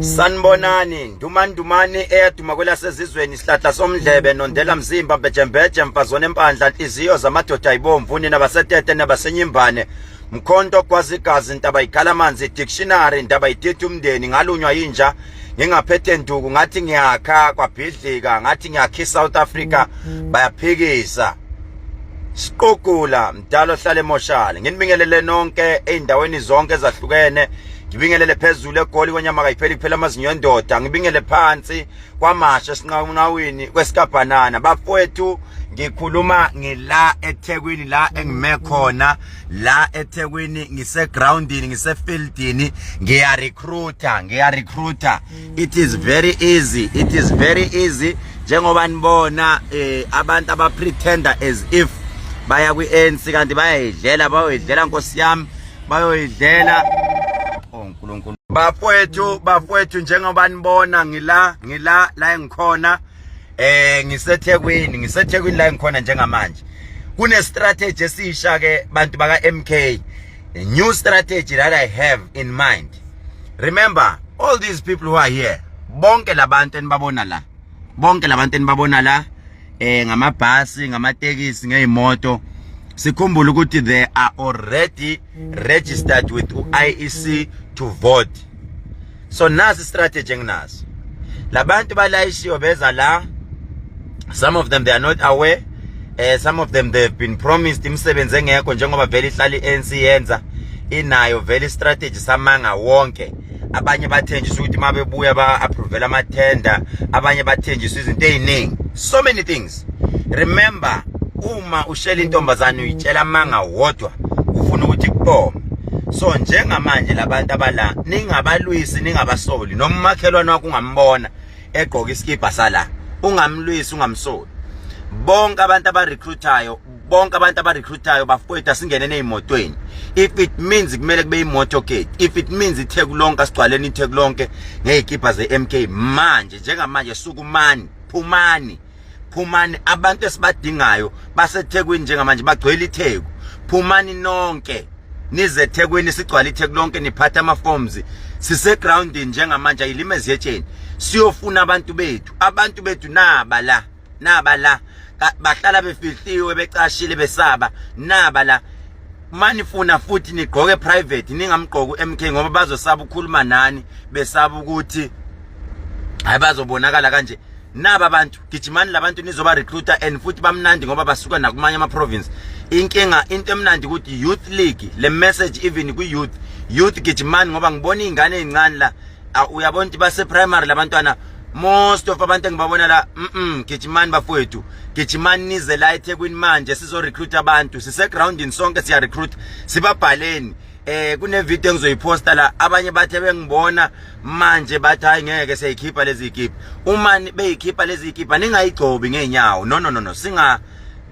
Sanibonani ndumandumane eyaduma kwelasezizweni isihlahla somndlebe nondela mzimba mbejembeje mfazone empandla inhliziyo zamadoda ayibomvu nina basetete nabasenyimbane mkhonto ogwaza igazi intaba ikhala amanzi dictionary intaba ithethe umndeni ngalunywa yinja ngingaphethe nduku ngathi ngiyakha kwabhidlika ngathi ngiyakha iSouth Africa mm-hmm. bayaphikisa siqugula mdala ohlala emoshali nginibingelele nonke ezindaweni zonke ezahlukene ngibingelele phezulu egoli kwenyama kayipheli kuphela amazinyo endoda ngibingele phansi kwamasha sinqawunqawini kwesikabhanana bafowethu ngikhuluma ngila eThekwini la engime khona la eThekwini ngise groundini ngise fieldini ngiya recruiter ngiya recruiter it is very easy it is very easy njengoba nibona eh abantu aba pretender as if baya kwi ANC kanti bayayidlela bayoyidlela nkosi yami bayoyidlela oh uNkulunkulu bafwethu bafwethu njengoba nibona ngila ngila la engikhona eh ngisethekwini ngisethekwini la engikhona njengamanje kune strategy esisha ke bantu baka MK a new strategy that i have in mind remember all these people who are here bonke labantu enibabona la bonke labantu enibabona la eh ngamabhasi ngamatekisi ngezimoto sikhumbule ukuthi they are already registered with uIEC to vote so nasi strategy enginaso labantu balayishiwe beza la some of them they are not aware eh some of them they've been promised imisebenzi engekho njengoba vele ihlali ANC yenza inayo vele strategy samanga wonke abanye bathenjiswa ukuthi mabebuya ba approve ama tender abanye bathenjiswa izinto eziningi so many things right remember uma ushela intombazane uyitshela amanga wodwa ufuna ukuthi kubome so njengamanje labantu abala ningabalwisi ningabasoli noma umakhelwane wakho ungambona egqoka isikibha sala ungamlwisi ungamsoli bonke abantu abarecruitayo bonke abantu abarecruitayo bafowethu asingene nezimotweni if it means kumele kube imoto gate if it means itheku lonke asigcwaleni itheku lonke ngezikibha ze MK manje njengamanje sukumani phumani phumani abantu esibadingayo basethekwini njengamanje bagcwele itheku phumani nonke nize ethekwini sigcwala itheku lonke niphatha ama-forms sisegroundini njengamanje ayilima ezihetsheni siyofuna abantu bethu abantu bethu naba la naba la bahlala befihliwe becashile besaba naba la manifuna futhi nigqoke private ningamgqoki uMK ngoba bazosaba ukukhuluma nani besaba ukuthi hayi bazobonakala kanje naba bantu gijimani labantu nizoba recruiter and futhi bamnandi ngoba basuka nakumanye ama province inkinga into emnandi ukuthi youth league le message even kwi youth youth gijimani ngoba ngibona izingane ezincane la uyabona ukuthi base primary labantwana most of abantu engibabona la mm gijimani bafowethu gijimani nize la eThekwini manje sizo recruit abantu sise groundini sonke siya recruit sibabhaleni eh kunevideo engizoyiposta la abanye bathe bengibona manje bathi hayi ngeke seyikhipha lezi ikhipha uma beyikhipha lezi ikhipha ningayigcobi ngeenyawo no no no no singa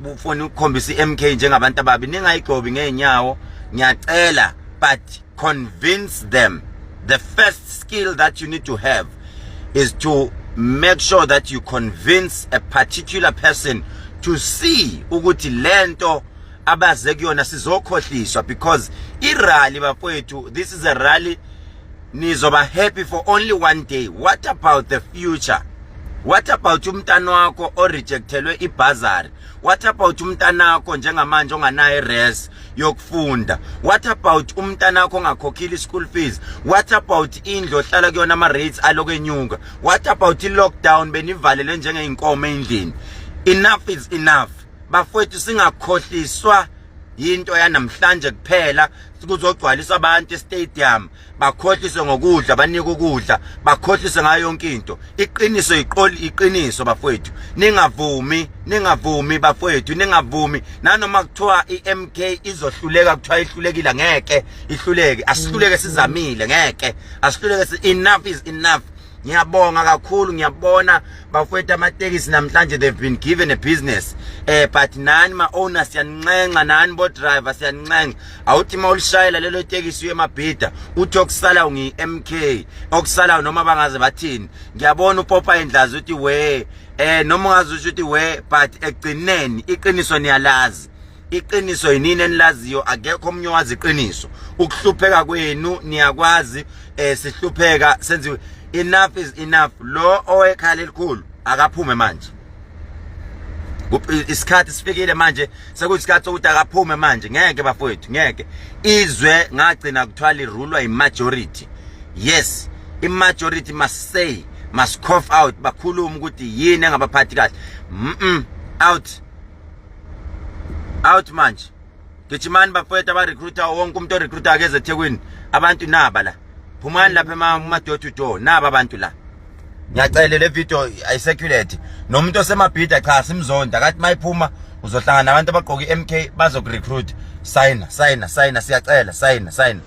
bufoni ukukhombisa iMK njengabantu ababi ningayigcobi ngeenyawo ngiyacela but convince them the first skill that you need to have is to make sure that you convince a particular person to see ukuthi lento abaze kuyona sizokhohliswa because irally bafowethu this is a rally nizoba happy for only one day what about the future what about umntana wakho orejectelwe ibhazari what about umntana wakho njengamanje onganayo res yokufunda what about umntana wakho ongakhokhile ischool fees what about indlu ohlala kuyona ama-rates aloko enyuka what about i-lockdown benivalelwe njengeyinkomo endlini enough is enough bafowethu singakhohliswa yinto yanamhlanje kuphela kuzogcwaliswa abantu estadium bakhohliswe ngokudla banika ukudla bakhohliswe ngayo yonke into iqiniso iqoli iqiniso bafowethu ningavumi ningavumi bafowethu ningavumi nanoma kuthiwa iMK izohluleka kuthiwa ihlulekile ngeke ihluleke asihluleke sizamile ngeke asihluleke enough is enough ngiyabonga kakhulu ngiyabona bafowethu amatekisi namhlanje they've been given a business eh but nani ma-owner siyaninxenxa nani bodriver siyaninxenxa awuthi uma ulishayela lelo tekisi uye emabhida uthi okusala ngi-m k okusalayo noma bangaze bathini ngiyabona upopa endlazi uthi we eh noma ungaze usho ukuthi we but ekugcineni iqiniso niyalazi iqiniso yinini enilaziyo akekho omunye owazi iqiniso ukuhlupheka kwenu niyakwazi eh sihlupheka senziwe enough is enough lo owekhala elikhulu akaphume manje isikhathi sifikile manje sekuyisikhathi sokuthi akaphume manje ngeke bafowethu ngeke izwe ngagcina kuthwala irulwa imajority yes imajority must say must cough out bakhuluma ukuthi yini engabaphathi kahle mm out out manje gijimani bafowethu abarecruiter wonke umuntu orecruiter akeze ethekwini abantu naba la phumani lapha emadoor to door naba abantu la ngiyacele le video ayisecurate nomuntu osemabhida cha simzonda kathi mayiphuma uzohlangana abantu abagqoka i-mk bazokurecruit sayina sayina sayina siyacela sayina sayina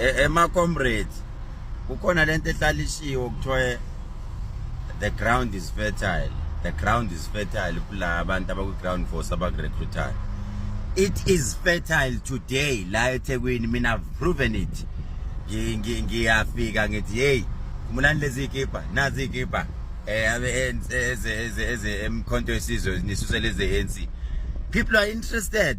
ema comrades kukhona lento ehlalishiwe kuthiwa the ground is fertile the ground is fertile kula abantu abakwi ground force abakurecruitayo it is fertile today la eThekwini mina have proven it ngiyafika ngithi hey khumulani lezi ikipa nazi ikipa eh abe eze eze eze emkhonto esizwe nisusele eze ANC people are interested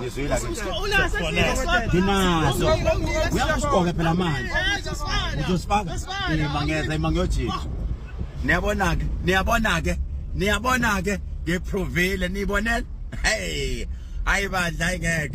ngizwile nginazo uyakusiqoka phela manje uzosifaka ima ngeza ima ngiyojika niyabona-ke niyabona-ke niyabona-ke ngiprovile niyibonela hey hayi bandla ayingeke